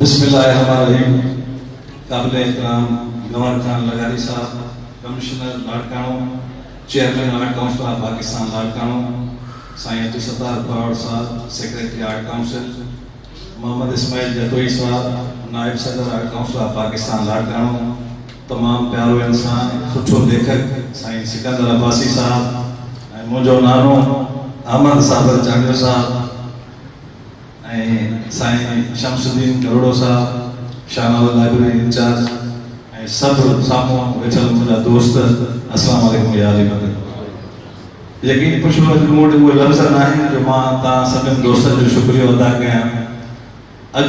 بسم الله الرحمن الرحيم قابل احترام گورنر خان لغاري صاحب، commissioner Larkana, chairman art council of Pakistan Larkana سائين عبدالستار پراهوڙ صاحب، secretary art council Muhammad Ismail Jatoi صاحب، نائب صدر art council of Pakistan Larkana, تمام پيارو انسان سٺو ليکڪ سائين سڪندر عباسي صاحب ۽ منهنجو نانو احمد صابر چانڊيو صاحب، ۽ سائين شمس الدين گهروڙو صاحب، شاهنواز لائبريري انچارج ۽ سڀ سامهون ويٺل منهنجا دوست السلام عليڪم يا اهل مدني ماحول. يقين پڇو اڄ مون وٽ اهي لفظ ناهن جو مان توهان سڀن دوستن جو شڪريو ادا ڪيان. اڄ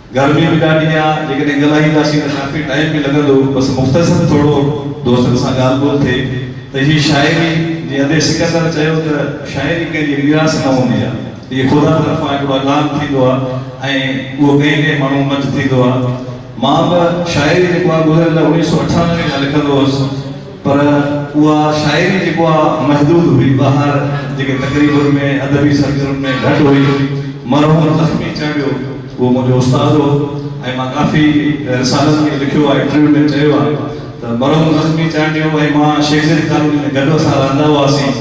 گرمي به ڏاڍي آ جيڪڏهن ڳالهائينداسين ته ڪافي ٽائيم به لڳندو بس مختصر ٿورو دوستن سان ڳالهه ٻولهه ٿئي ته هي شاعري جي ادي سڪندر چيو ته شاعري ڪنهن جي ميراث نه هوندي آ هي خدا طرفان هڪڙو اعلان ٿيندو آ ۽ اهو ڪئين ڪئين ماڻهون منجهه ٿيندو آ مان به شاعري جيڪو آ گذريل اڻيهه سؤ اٺانوي کان لکندو هوس پر اها شاعري جيڪو آ محدود هئي، ٻاهر جيڪي تقريبن ۾ ادبي سرگرمين ۾ گهٽ هئي. مرحوم زخمي چانڊيو اهو منهنجو استاد هو ۽ مان ڪافي رسالن ۾ لکيو آ، انٽرويو ۾ چيو آ ته مرحوم زخمي چانڊيو ۽ مان شيخ زيد ڪالوني ۾ گڏ اسان رهندا هئاسين.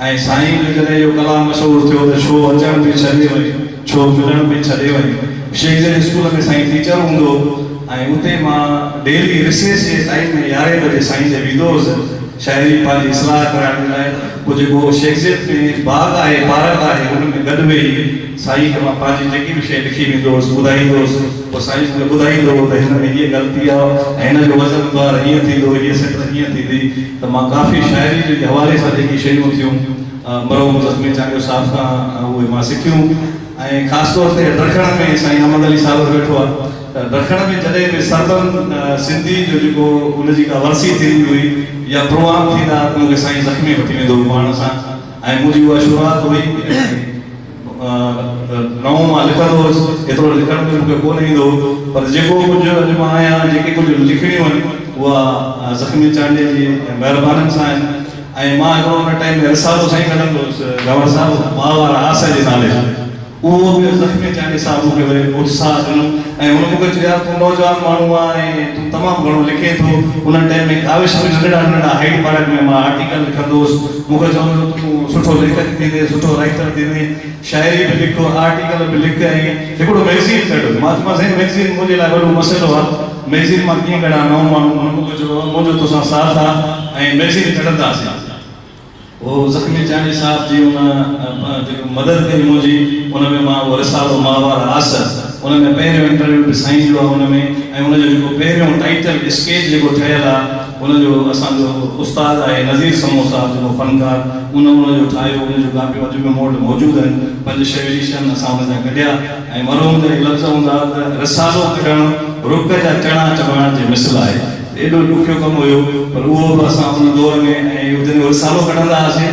۽ سائين جو جڏهن اهو ڪلام مشهور ٿيو ته ڇو اچڻ پئي ڇڏي وئين، ڇو ملڻ پئي ڇڏي وئين. شيخ جن اسڪول ۾ سائين ٽيچر هوندو هو ۽ اتي مان ڊيلي رسيس جي ٽائيم ۾ يارهين بجي سائين ڏي ويندو هوس شاعري پنهنجي اصلاح ڪرائڻ جي لاء پوء جيڪو شيخ جن ۾ باغ آهي پارڪ آهي ان ۾ گڏ ويهي سائين کي مان پنهنجي جيڪي به شيء لکي ويندو هوس ٻڌائيندو هوس پوء سائين مون کي ٻڌائيندو هو ته هن ۾ هيء غلطي آهي ۽ هن جو وزن بار هيئن ٿيندو هيء سٽر هيئن ٿيندي. ته مان ڪافي شاعري جي حوالي سان جيڪي شيون ٿيون مرحوم زخمي چانڊيو صاحب کان اهي مان سکيون ۽ خاص طور تي درکڻ ۾ سائين احمد علي صابر ويٺو آهي ته درکڻ ۾ جڏهن به سربن سنڌي جو جيڪو ان جي ڪا ورسي ٿيندي هئي يا پروگرام ٿيندا هئا ته مون کي سائين زخمي وٺي ويندو هو پاڻ سان ۽ منهنجي اها شروعات هئي ۽ نئون مان لکندو هوس، ايترو لکڻ به مون کي ڪونه ايندو هو، پر جيڪو ڪجهه اڄ مان آهيان ۽ جيڪي ڪجهه لکڻيون آهن، اها زخمي چانڊيي جي مهربانين سان آهن ۽ مان هڪڙو ان ٽائيم ۾ رسالو سائين ڪڍندو هوس گهنور صاحب ماء وارا آس جي نالي سان، اهو به زخمي چانڊيي صاحب مون کي وري اتساهه ڏنو ۽ هن مون کي چيو يار تون نوجوان ماڻهو آهين ۽ تون تمام گهڻو لکين ٿو، ان ٽائيم ۾ ڪاوش ۾ ننڍڙا ننڍڙا هائيڊ پارڪ ۾ مان آرٽيڪل لکندو هوس. مون کي چوندو هو ته تون سٺو ليکڪ ٿيندين، سٺو رائيٽر ٿيندين، شاعري به لک، آرٽيڪل به لک ۽ هڪڙو مئگزين ڪڍ. مان چيومانس سائين مئگزين منهنجي لاء وڏو مسئلو آ، مئگزين مان ڪيئن ڪڍان نئون ماڻهو. هن مون کي چيو بابا منهنجو توسان ساٿ آ ۽ مئگزين ڪڍنداسين. هو زخمي چانڊيي صاحب جي ان جيڪو مدد ڪئي منهنجي ان ۾ مان اهو رسالو ماهوار آس ان ۾ پهريون انٽرويو به سائين جو آ ان ۾ ۽ ان جو جيڪو پهريون ٽائيٽل اسڪيچ جيڪو ٺهيل آ، هن جو اسان جو استاد آهي نظير سمون صاحب جيڪو فنڪار ان ان جو ٺاهيو ان جون ڪاپيون اڄ به مون وٽ موجود آهن پنج ڇهه ايڊيشن اسان ان جا ڪڍيا ۽ مرحوم جا اهي لفظ هوندا ها ته رسالو ڪڍڻ رڪ جا چڻا چٻاڻ جي مثل آهي ته ايڏو ڏکيو ڪم هيو پر اهو به اسان ان دور ۾ ۽ جڏهن رسالو ڪڍندا هئاسين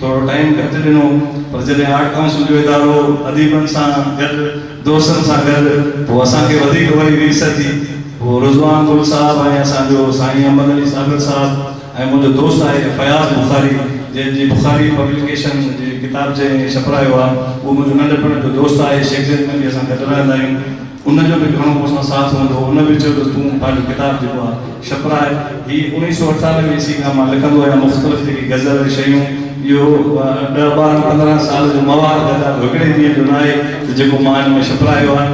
ٿورو ٽائيم گهٽ ڏنو پر جڏهن آرٽ ڪائونسل جو ادارو اديبن سان گڏ دوستن سان گڏ پوء اسان کي وڌيڪ وري ريس ٿي پوء رضوان گل صاحب ۽ اسان جو سائين احمد علي صابر صاحب ۽ منهنجو دوست آهي فياض بخاري جنهن جي بخاري پبليڪيشن جي ڪتاب جنهن ڇپرايو آهي اهو منهنجو ننڍپڻ جو دوست آهي شيگزين ۾ به اسان گڏ رهندا آهيون. ان جو به گهڻو مون سان ساٿ هوندو ان به چيو ته تون پنهنجو ڪتاب جيڪو آ ڇپرائي هي اوڻيهه سؤ اٺانوي عيسوي کان مان لکندو آهيان مختلف جيڪي غزل ۽ شيون اهو ڏهه ٻارهن پندرهن سال جو مواد گدا ڪو هڪڙي ڏينهن جو ناهي ته جيڪو مان ان ۾ ڇپرايو آ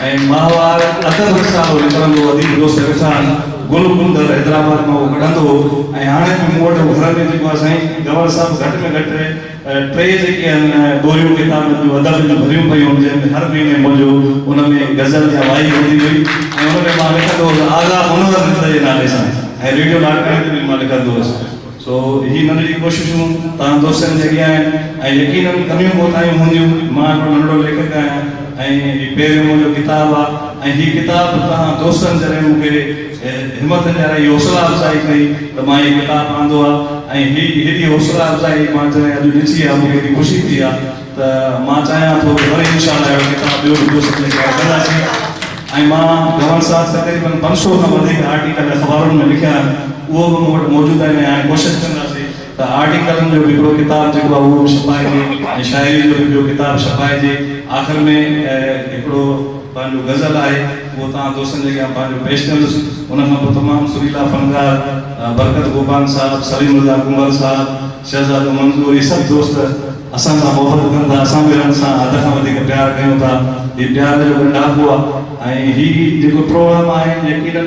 ۽ ماهوار ادب رسالو نڪرندو هو اديب دوست رفسان گل ڪنڌر حيدرآباد مان اهو ڪڍندو هو ۽ هاڻي به مون وٽ گهر ۾ جيڪو آ سائين گهنور صاحب گهٽ ۾ گهٽ ٽي جيڪي آهن ٻوريون ڪتابن جون ادب جون ڀريون پيون هن جن ۾ هر مهيني منهنجو ان ۾ غزل يا وائي هوندي هئي ۽ ان ۾ مان لکندو هوس آغا منور رند جي نالي سان ۽ ريڊيو لاڙڪاڻي تي به مان لکندو هوس سو هي ننڍڙي ڪوششون تهان دوستن جي اڳيان آهن ۽ يقينن ڪميون ڪوتاهيون هونديون مان هڪڙو ننڍڙو ليکڪ آهيان ۽ هي پهريون منهنجو ڪتاب آهي ۽ هي ڪتاب تهان دوستن جڏهن مون کي کي همٿ ڏيارائي حوصلا افزائي ڪئي ته مان هي ڪتاب آندو آ ۽ هي هيڏي حوصلا افزائي مان جڏهن اڄ ڏٺي آ مون کي هيڏي خوشي ٿي آ ته مان چاهيان ٿو ته وري انشاء الله اهڙو ڪتاب ٻيو به دوستن جي ڪري ڪنداسين ۽ مان گورنر صاحب تقريبن پنج سؤ کان وڌيڪ آرٽيڪل اخبارن ۾ لکيا آهن اهو به مون وٽ موجود آهن ۽ هاڻي ڪوشش ڪنداسين ته آرٽي ڪلن جو به هڪڙو ڪتاب جيڪو آهي اهو به ڇپائجي ۽ شاعري جو به ٻيو ڪتاب ڇپائجي آخر ۾ هڪڙو پنهنجو غزل آهي اهو توهان دوستن جي اڳيان پنهنجو پيش ڪندس ان کان پوء تمام سريلا فنڪار برڪت گوپانگ صاحب، سليم رضا ڪنڀر صاحب، شهزادو منظور هي سڀ دوست اسان سان محبت ڪن ٿا اسان به هنن سان حد کان وڌيڪ پيار ڪيون ٿا هي پيار جو ڳنڍاپو آهي ۽ هي جيڪو پروگرام آهي يقينن.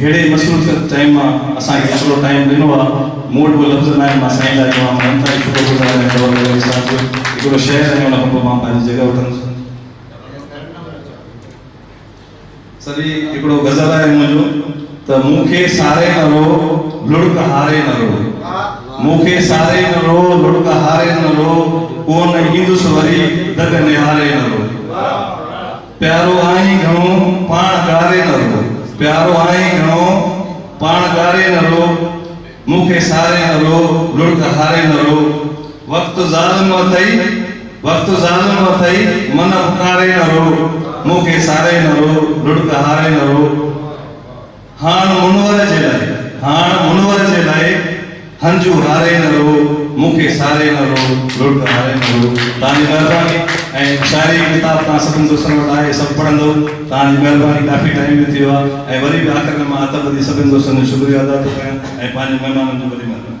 ههڙي مصروفيت ٽائيم مان اسان کي ٿورو ٽائيم ڏنو آ مون وٽ اهو لفظ ناهن مان سائين لاء چوان ٿو انتهائي شڪر گذار آهيان جو هن وقت سان جو هڪڙو شهر ۽ ان کان پوء مان پنهنجي جڳهه وٺندس. سري هڪڙو غزل آهي منهنجو ته مون کي ساري نه رو لڙڪ هاري نه رو مون کي ساري نه رو لڙڪ هاري نه رو ڪون ايندس وري دڳ نهاري نه رو. پيارو آهين گهڻو پاڻ گاري نه رو. پيارو آهين گهڻو پاڻ گاري نه رو. مون کي ساري نه رو، لڙڪ هاري نه رو. وقت ظالم اٿئي، وقت ظالم اٿئي، من اپڪاري نه رو. مون کي ساري نه رو، لڙڪ هاري نه رو. هاڻ منور جي لاء، هاڻ منور جي لاء، هنجون هاري نه رهو، مون کي ساري نه رهو، لڙڪ هاري نه رهو. توهان جي مهرباني ۽ شاعري جي ڪتاب توهان سڀني دوستن وٽ آهي، سڀ پڙهندؤ. توهان جي مهرباني ڪافي ٽائيم به ٿي ويو آهي ۽ وري به آخر ۾ مان ادب جي سڀني دوستن جو شڪريو ادا ٿو ڪريان ۽ پنهنجن مهمانن جون وڏي مهربانيون.